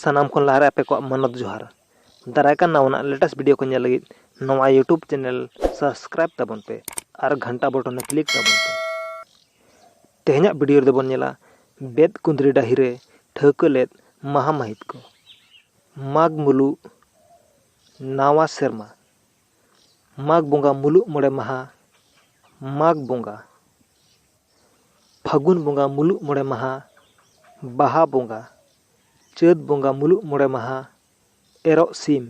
ᱥᱟᱱᱟᱢ ᱠᱷᱚᱱ ᱞᱟᱦᱟᱨᱮ ᱟᱯᱮ ᱠᱚᱣᱟᱜ ᱢᱟᱱᱚᱛ ᱡᱚᱦᱟᱨ ᱫᱟᱨᱟᱭ ᱠᱟᱱ ᱱᱟᱣᱟᱱᱟᱜ ᱞᱮᱴᱮᱥᱴ ᱵᱷᱤᱰᱤᱭᱳ ᱠᱚ ᱧᱮᱞ ᱞᱟᱹᱜᱤᱫ ᱱᱚᱣᱟ ᱭᱩᱴᱩᱵᱽ ᱪᱮᱱᱮᱞ ᱥᱟᱵᱥᱠᱨᱟᱭᱤᱵᱽ ᱛᱟᱵᱚᱱ ᱯᱮ ᱟᱨ ᱜᱷᱟᱱᱴᱟ ᱵᱚᱴᱚᱱ ᱨᱮ ᱠᱞᱤᱠ ᱛᱟᱵᱚᱱ ᱯᱮ ᱛᱮᱦᱮᱧᱟᱜ ᱵᱷᱤᱰᱤᱭᱳ ᱨᱮᱫᱚ ᱵᱚᱱ ᱧᱮᱞᱟ ᱵᱮᱫ ᱠᱩᱸᱫᱽᱨᱤ ᱰᱟᱹᱦᱤ ᱨᱮ ᱴᱷᱟᱹᱣᱠᱟᱹ ᱞᱮᱫ ᱢᱟᱦᱟ ᱢᱟᱹᱦᱤᱛ ᱠᱚ ᱢᱟᱜᱽ ᱢᱩᱞᱩᱜ ᱱᱟᱣᱟ ᱥᱮᱨᱢᱟ ᱢᱟᱜᱽ ᱵᱚᱸᱜᱟ ᱢᱩᱞᱩᱜ ᱢᱚᱬᱮ ᱢᱟᱦᱟ ᱢᱟᱜᱽ ᱵᱚᱸᱜᱟ ᱯᱷᱟᱹᱜᱩᱱ ᱵᱚᱸᱜᱟ ᱢᱩᱞᱩᱜ ᱢᱚᱬᱮ ᱢᱟᱦᱟ ᱵᱟᱦᱟ ᱵᱚᱸᱜᱟ ᱪᱟᱹᱛ ᱵᱚᱸᱜᱟ ᱢᱩᱞᱩᱜ ᱢᱚᱬᱮ ᱢᱟᱦᱟ ᱮᱨᱚᱜ ᱥᱤᱢ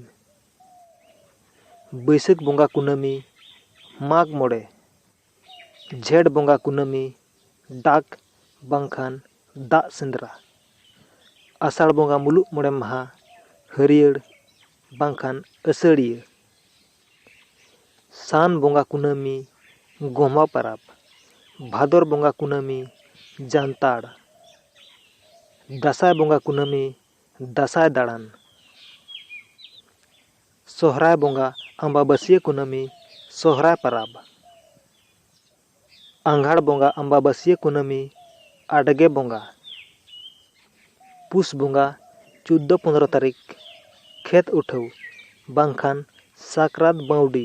ᱵᱟᱹᱭᱥᱟᱹᱠᱷ ᱵᱚᱸᱜᱟ ᱠᱩᱱᱟᱹᱢᱤ ᱢᱟᱜᱽ ᱢᱚᱬᱮ ᱡᱷᱮᱸᱴ ᱵᱚᱸᱜᱟ ᱠᱩᱱᱟᱹᱢᱤ ᱰᱟᱠ ᱵᱟᱝᱠᱷᱟᱱ ᱫᱟᱜ ᱥᱮᱸᱫᱽᱨᱟ ᱟᱥᱟᱲ ᱵᱚᱸᱜᱟ ᱢᱩᱞᱩᱜ ᱢᱚᱬᱮ ᱢᱟᱦᱟ ᱦᱟᱹᱨᱭᱟᱹᱲ ᱵᱟᱝᱠᱷᱟᱱ ᱟᱹᱥᱟᱹᱲᱤᱭᱟᱹ ᱥᱟᱱ ᱵᱚᱸᱜᱟ ᱠᱩᱱᱟᱹᱢᱤ ᱜᱚᱢᱦᱟ ᱯᱟᱨᱟᱵᱽ ᱵᱷᱟᱫᱚᱨ ᱵᱚᱸᱜᱟ ᱠᱩᱱᱟᱹᱢᱤ ᱡᱟᱱᱛᱟᱲ ᱫᱟᱸᱥᱟᱭ ᱵᱚᱸᱜᱟ ᱠᱩᱱᱟᱹᱢᱤ ᱫᱟᱸᱥᱟᱭ ᱫᱟᱬᱟᱱ ᱥᱚᱦᱨᱟᱭ ᱵᱚᱸᱜᱟ ᱟᱢᱵᱟᱵᱟᱹᱥᱤᱭᱟᱹ ᱠᱩᱱᱟᱹᱢᱤ ᱥᱚᱦᱨᱟᱭ ᱯᱟᱨᱟᱵᱽ ᱟᱸᱜᱷᱟᱲ ᱵᱚᱸᱜᱟ ᱟᱢᱵᱟᱵᱟᱹᱥᱤᱭᱟᱹ ᱠᱩᱱᱟᱹᱢᱤ ᱟᱰᱜᱮ ᱵᱚᱸᱜᱟ ᱯᱩᱥ ᱵᱚᱸᱜᱟ ᱪᱳᱫᱽᱫᱚ ᱯᱚᱸᱫᱽᱨᱚ ᱛᱟᱹᱨᱤᱠᱷ ᱠᱷᱮᱛ ᱩᱴᱷᱟᱹᱣ ᱵᱟᱝᱠᱷᱟᱱ ᱥᱟᱠᱨᱟᱛ ᱵᱟᱹᱣᱰᱤ